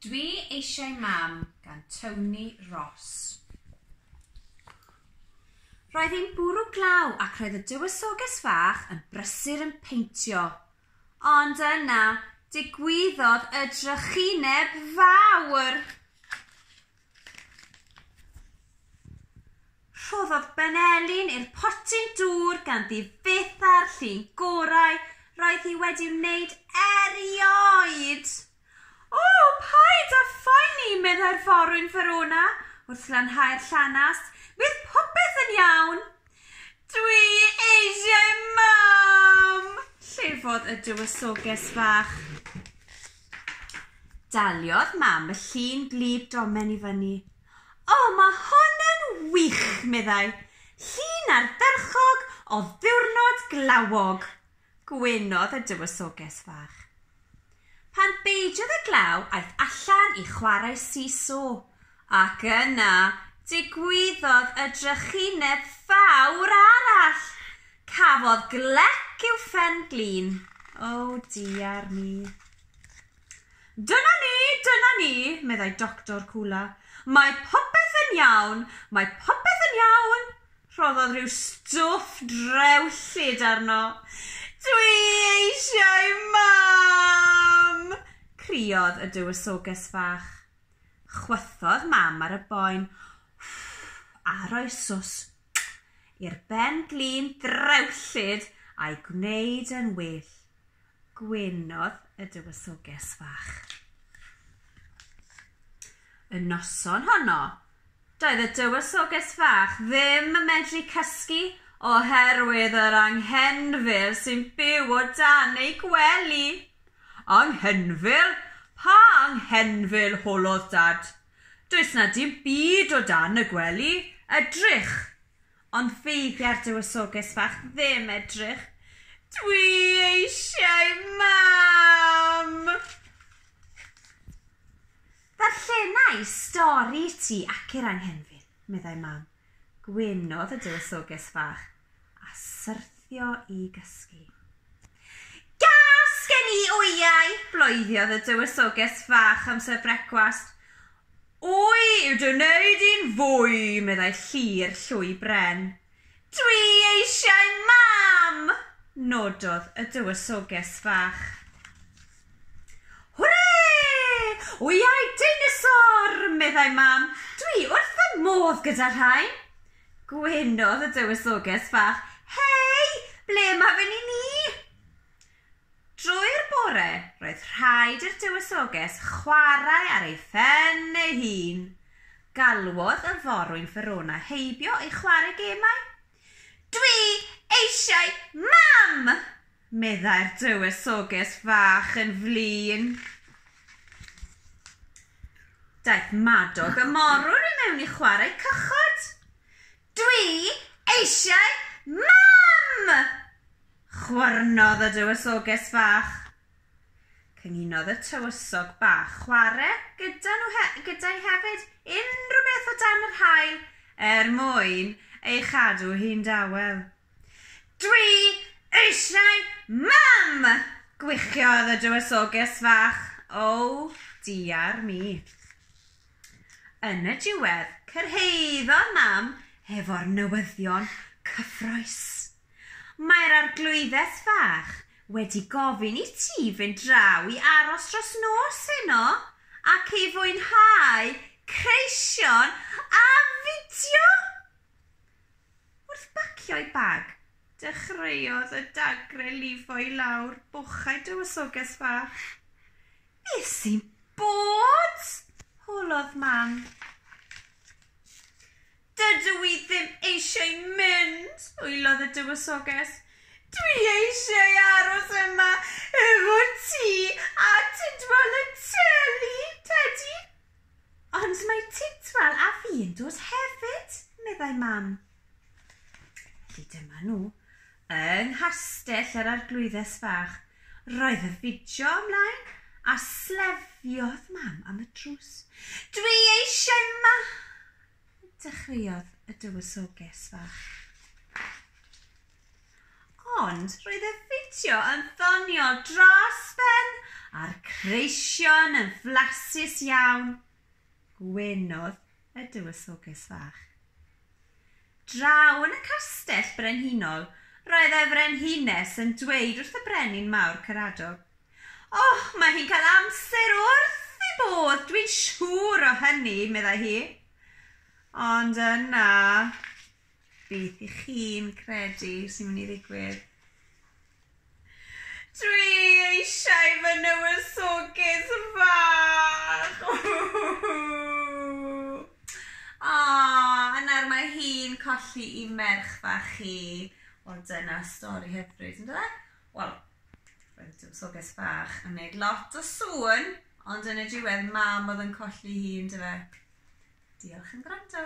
Dwi eisiau mam gan Tony Ross. Roedd hi'n bwrw glaw ac roedd y dywysoges fach yn brysur yn peintio. Ond yna, digwyddodd y drychineb fawr! Rhoddodd Ben Elin i'r potyn dŵr ganddi fyth a'r llun gorau roedd hi wedi wneud erioed! O, paid â phoeni, meddai'r forwyn Verona wrth lanhau'r llanast, bydd popeth yn iawn! Dwi eisiau mam! Llefodd y dywysoges fach. Daliodd mam y llun gwlyb domen i fyny. O, mae hwn yn wych, meddai. Llun ardderchog o ddiwrnod glawog. Gwynodd y dywysoges fach. Pan beidiodd y glaw aeth allan i chwarae seesaw, ac yna digwyddodd y drychineb fawr arall! Cafodd glec i'w phen glin. O, diar mi. Dyna ni, dyna ni, meddai Doctor Coola. Mae popeth yn iawn, mae popeth yn iawn. Rhoddodd rhyw stwff drewllyd arno. Dwi eisiau Mam! criodd y Dywysoges Fach. Chwythodd Mam ar y boen a rhoi swsg i'r ben glin drewllyd a'i gwneud yn well. Gwynodd y Dywysoges Fach. Y noson honno, Doedd y Dywysoges Fach ddim yn medru cysgu oherwydd yr anghenfil sy'n byw o dan ei gwely. Anghenfil? Pa anghenfil? holodd Dad. Does 'na dim byd o dan y gwely. Edrych! Ond feibia'r Dywysoges Fach ddim edrych. Dwi eisiau Mam! Darllena i stori i ti ac i'r anghenfil, meddai Mam. Gwynodd y dywysoges fach a syrthio i gysgu. Gas gen i wyau! bloeddodd y dywysoges fach amser brecwast. Wy yw dy wneud i'n fwy, meddai Llyr llwy bren. Dwi eisiau mam! nododd y dywysoges fach. Hwre! Wyau deinosor! meddai mam. Dwi wrth fy modd gyda rhain! Gwenodd y dywysoges fach. Hei! Ble mae fy ni ni? Drwy'r bore, roedd rhaid i'r Dywysoges chwarae ar ei phen ei hun. Galwodd y forwyn Verona heibio i chwarae gemau. Dwi eisiau mam! meddai'r Dywysoges fach yn flin. Daeth Madog y morwr i mewn i chwarae cychod. Dwi eisiau Mam! chwyrnodd y Dywysoges Fach. Cyngunodd y Tywysog Bach chware gyda nhw he gyda hi hefyd, unrhyw beth o dan yr haul, er mwyn ei chadw hi'n dawel. Dwi eisiau Mam! gwichiodd y Dywysoges Fach. O, diar mi. Yn y diwedd, cyrhaeddodd Mam hefo'r newyddion cyffrous. Mae'r arglwyddes fach wedi gofyn i ti fynd draw i aros dros nos heno ac i fwynhau creision a fideo! Wrth bacio'i bag, dechreuodd y dagre lifo i lawr bochau Dywysoges Fach. Be sy'n bod? holodd Mam. Dydw i ddim eisiau mynd, wylodd y Dywysoges. Dwi eisiau aros yma efo ti a Tidwal y Teli, Tedi, Ond mae Tidwal a fi'n dod hefyd, meddai Mam. Felly dyma nhw, yng nghastell yr Arglwyddes Fach. Roedd y fideo ymlaen, a slyfiodd Mam am y drws. Dwi eisiau ma! dechreuodd y dywysoges fach. Ond roedd y fideo yn ddoniol dros ben a'r creision yn flasus iawn. Gwenodd y dywysoges fach. Draw yn y castell brenhinol, roedd y frenhines yn dweud wrth y brenin mawr Caradog, Och, mae hi'n cael amser wrth ei bodd, dwi'n siŵr o hynny, meddai hi. Ond yna, beth i chi'n credu sy'n mynd i ddigwydd? Dwi eisiau fy nywysoges fach! O, a nawr mae hi'n colli i merch fach hi. Wel, dyna stori hyfryd, ynddo fe? wel, roedd Tywysogys Fach yn gwneud lot o sŵn, ond yn y diwedd mam oedd yn colli hi, yndyfe? Diolch am gwrando.